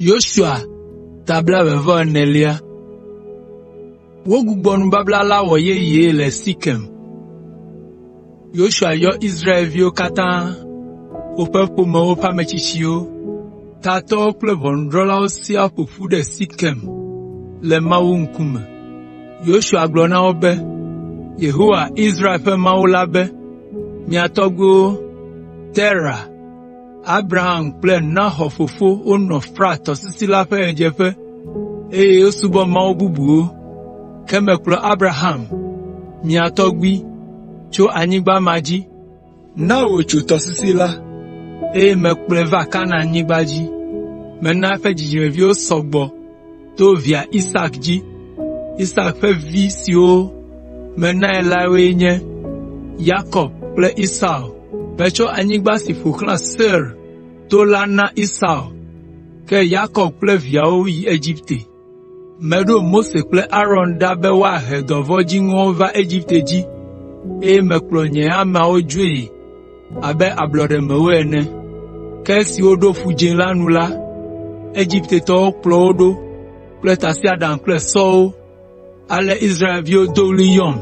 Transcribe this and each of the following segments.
Yosua tabla eve vɔ enelia. Wogbugbɔ nubabla la wɔ yeye le Sikem. Yosua yɔ Israelviwo katã, woƒe ƒomewo ƒe ametsitsiwo, tatɔwo kple ʋɔnudrɔ̃lawo siaa ƒo ƒu ɖe Sikem le Mawu ŋkume. Yosua gblɔ na wo be, “Yehowa, Israel ƒe Mawu la be, ‘Mia tɔgbuiwo, Tera, Abraham kple Nahor fofo wonɔ Frat tɔsisi la ƒe ɣedzeƒe, eye wosubɔ mawu bubuwo. Ke mekplɔ Abraham, mia tɔgbui, tso anyigba ma dzi, na wòtso tɔsisi la, eye mekplɔe va Kanaanyigba dzi. Mena eƒe dzidzimeviwo sɔ gbɔ, to via Isak dzi. Isak ƒe vi siwo menae la woe nye, Yakob kple Esau. Metsɔ anyigba si ƒo xlã Seir to la na Esau, ke Yakob kple viawo yi Egipte. Meɖo Mose kple Aron ɖa be woahe dɔvɔ̃ dziŋɔwo va Egipte dzi, eye mekplɔ nye ameawo dzoe. abe ablɔɖe mewo ene. Ke esi woɖo Ƒu Dzĩ la nu la, Egiptetɔwo kplɔ wo ɖo kple tasiaɖam kple sɔwo. Ale Israelviwo do ɣli yɔm,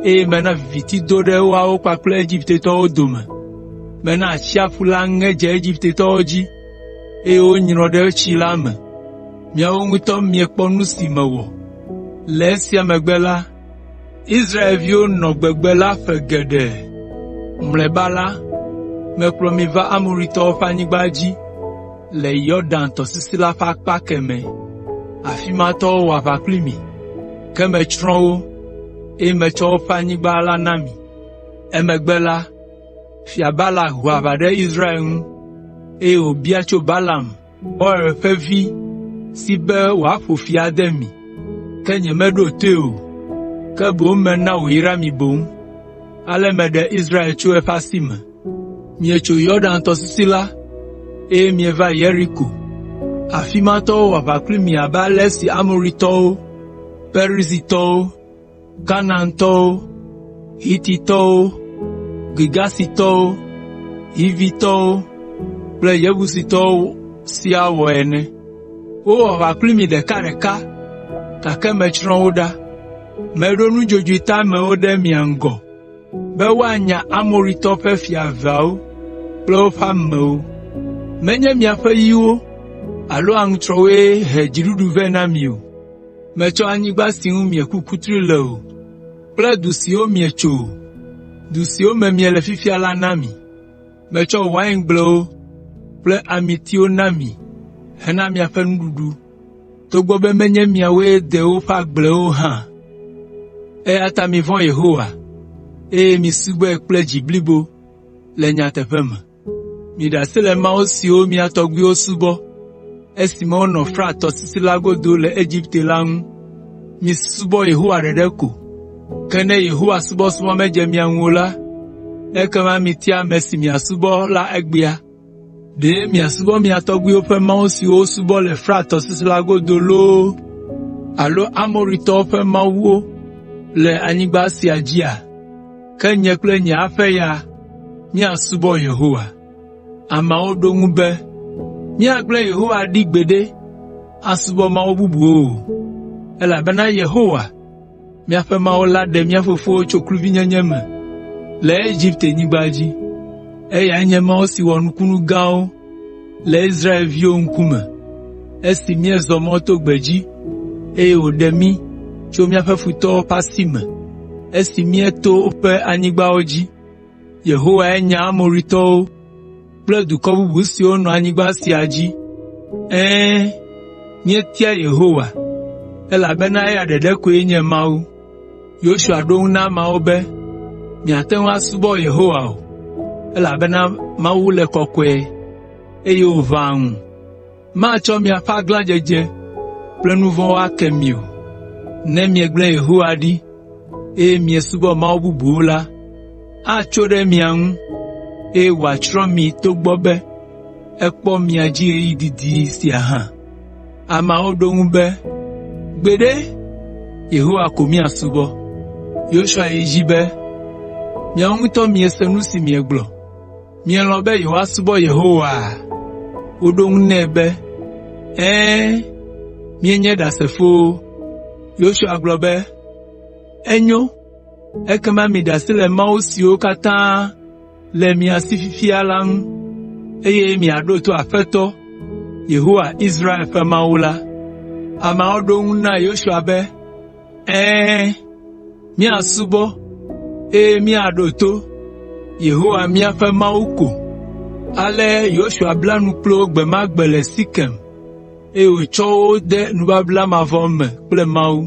eye mena viviti do ɖe woawo kpakple Egiptetɔwo dome. Mena atsiaƒu la ŋe dze Egiptetɔwo dzi, eye wonyrɔ ɖe tsi la me. Miawo ŋutɔ miekpɔ nu si mewɔ. Le esia megbe la, Israelviwo nɔ gbegbe la ƒe geɖe. Mlɔeba la, mekplɔ mi va Amoritɔwo ƒe anyigba dzi le Yɔdan tɔsisi la ƒe akpa kemɛ. Afi ma tɔwo wɔ aʋa kpli mi, ke metsrɔ̃ wo, eye metsɔ woƒe anyigba la na mi. Emegbe la, Fia Balak ho aʋa ɖe Israel ŋu, eye wòbia tso Balaam, Beor ƒe vi si be wòaƒo fi ade mi, ke nyemeɖo toe o, ke boŋ mena wòyra mi boŋ. Ale meɖe Israel tso eƒe asi me. Mietso Yordan tɔsisi la, eye mieva Yeriko. Afi ma tɔwo wɔ aʋa kpli mi abe ale si Amoritɔwo, Perizitɔwo, Kanaantɔwo, Hititɔwo, Girgasitɔwo, Hivitɔwo kple Yebusitɔwo siaa wɔ ene. Wowɔ aʋa kpli mi ɖekaɖeka, gake metsrɔ̃ wo ɖa. Meɖo nudzodzoe teamewo ɖe mia ŋgɔ be woanya Amoritɔwo ƒe fia eveawo kple woƒe amewo. Menye miaƒe yiwo alo aŋutrɔwoe he dziɖuɖu vɛ na mi o. Metsɔ anyigba si ŋu mieku kutri le o kple du siwo mietso o, du siwo me miele fifia la na mi. Metsɔ waingblewo kple amitiwo na mi hena miaƒe nuɖuɖu, togbɔ be menye miawoe de woƒe agblewo o hã. Eya ta mivɔ̃ Yehowa, eye misubɔe kple dzi blibo le nyateƒe me.” Miɖe asi le mawu siwo mia tɔgbuiwo subɔ esime wonɔ Frat tɔsisi la godo le Egipte la ŋu. Misubɔ Yehowa ɖeɖe ko. Ke ne Yehowa subɔsubɔ medze mia ŋu o la, ekema mitia ame si miasubɔ la egbea. Ɖe miasubɔ mia tɔgbuiwo ƒe mawu siwo wosubɔ le Frat tɔsisi la godo loo alo Amoritɔwo ƒe mawuwo le anyigba sia dzia? ke nye kple nye aƒe ya míasubɔ Yehowa.” Ameawo ɖo eŋu be, “Míagblẽ Yehowa ɖi gbeɖe asubɔ mawu bubuwo o, elabena Yehowa, míaƒe Mawu la ɖe mía fofowo tso kluvinyenye me le Egiptenyigba dzi. Eyae nye Mawu si wɔ nukunu gãwo le Israelviwo ŋkume esi míezɔ mɔ to gbedzi, eye wòɖe mí tso míaƒe futɔwo ƒe asi me esi míeto woƒe anyigbawo dzi. Yehowae nya Amoritɔwo kple dukɔ bubu siwo nɔ anyigba sia dzi. Ɛ̃, míetia Yehowa, elabena eya ɖeka koe nye Mawu.” Yosua ɖo eŋu na ameawo be, “Miate ŋu asubɔ Yehowa o, elabena Mawu le kɔkɔe, eye wòʋãa ŋu. Matsɔ miaƒe aglãdzedze kple nu vɔ̃wo ake mi o. Ne miegblẽ Yehowa ɖi, eye miesubɔ mawu bubuwo la, atso ɖe mia ŋu, eye wòatsrɔ̃ mi togbɔ be ekpɔ mia dzi ɣeyiɣi didi sia hã. Ameawo ɖo eŋu be, “Gbeɖe, Yehowa ko míasubɔ.” Yosua yi edzi be, “Miawo ŋutɔ miese nu si miegblɔ. Mielɔ̃ be yewoasubɔ Yehowa?” Woɖo eŋu nɛ be, “Ɛ̃, míenye Ɖasefowo.” Yosua gblɔ be, “Enyo, ekema miɖe asi le mawu siwo katã le mia si fifia la ŋu, eye miaɖo to Aƒetɔ, Yehowa, Israel ƒe Mawu la.” Ameawo ɖo eŋu na Yosua be, “Ɛ̃, míasubɔ, eye míaɖo to Yehowa míaƒe Mawu ko.” Ale Yosua bla nu kpli wo gbe ma gbe le Sikem. eye wòtsɔ wo de nubabla mavɔ me kple Mawu.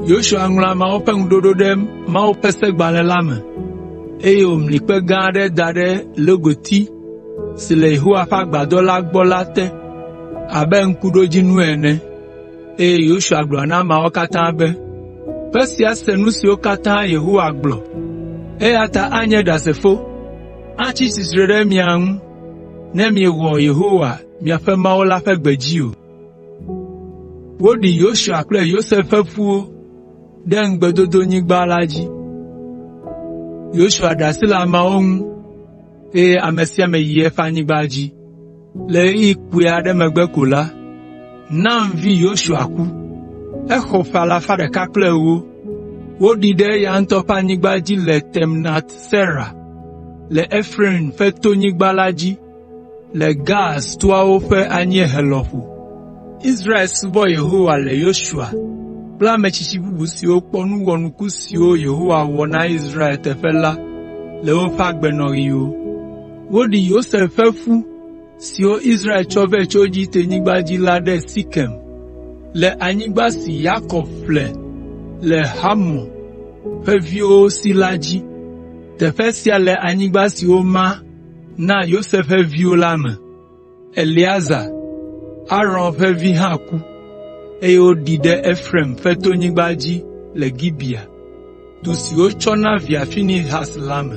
Yosua ŋlɔ ameawo ƒe ŋuɖoɖo ɖe Mawu ƒe Segbalẽ la me, eye wòmli kpe gã aɖe da ɖe logoti si le Yehowa ƒe agbadɔ la gbɔ la te abe ŋkuɖodzinu ene, eye Yosua gblɔ na ameawo katã be, “Kpe sia se nu siwo katã Yehowa gblɔ, eya ta anye ɖasefo, atsi tsitre ɖe mia ŋu ne miewɔ Yehowa, miaƒe Mawu la ƒe gbe dzi o. Woɖi Yosua kple Yosef ƒe ƒuwo ɖe ŋugbedodonyigba la dzi. Yosua ɖe asi le ameawo ŋu, eye ame sia ame yi eƒe anyigba dzi. Le ɣeyiɣi kpui aɖe megbe ko la, Nun vi Yosua ku. Exɔ ƒe alafa ɖeka kple ewo. Woɖii ɖe eya ŋutɔ ƒe anyigba dzi le Timnat Sera le Efraim ƒe tonyigba la dzi le Gaas toawo ƒe anyiehe lɔƒo. Israel subɔ Yehowa le Yosua kple ame tsitsi bubu siwo kpɔ nu wɔnuku siwo Yehowa wɔ na Israel teƒe la le woƒe agbenɔɣiwo. Woɖi Yosef ƒe ƒu siwo Israel tsɔ vɛ tso Egiptenyigba dzi la ɖe Sikem, le anyigba si Yakob ƒle le Hamor ƒe viwo si la dzi. Teƒe sia le anyigba si woma na Yosef ƒe viwo la me. Eleazar, Aron ƒe vi hã ku, eye woɖii ɖe Efraim ƒe tonyigba dzi le Gibea, du si wotsɔ na via Finehas la me.